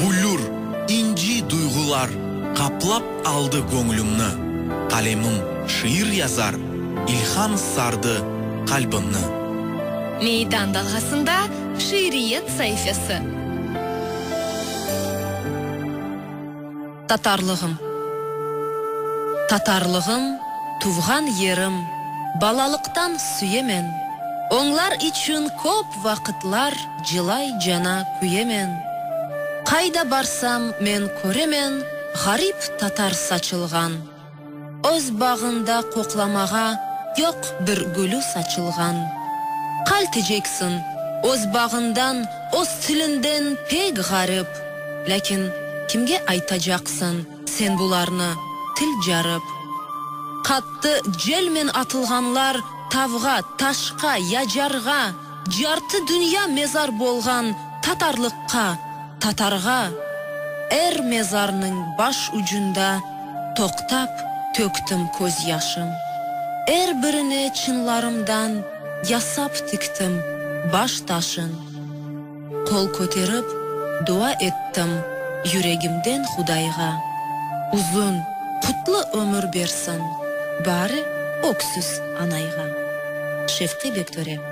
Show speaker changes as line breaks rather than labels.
Bülür, inci duyğular qaplap aldı göñlümni, Qalemim şiir yazar, ilham sardı qalbimni.
Meydan dalğasında şiiriyet saifesi.
Tatarlığım, Tatarlığım, tuvğan yerim, balalıqtan süyemen, Oñlar içün köp vaqıtlar cılay cana küyemen. Qayda barsam, men köremen, ğarip tatar saçılğan. Öz bağında qoqlamağa yoq bir gülü saçılğan. Qalteceksin, öz bağından, öz tilinden pek ğarip, lâkin kimge aytacaqsın sen bularnı, til carip. Qattı celmen atılğanlar tavğa, taşqa, yacarğa. Yartı dünya mezar bolğan tatarlıqqa, tatarğa, er mezarnıñ baş ucunda toqtap töktim köz yaşım. Er birine çınlarımdan yasap tiktim baş taşın. Qol köterip, dua ettim yüregimden Hudayğa. Uzun, qutlu ömür bersin bari öksüz anayğa. Şevqi Bektöre.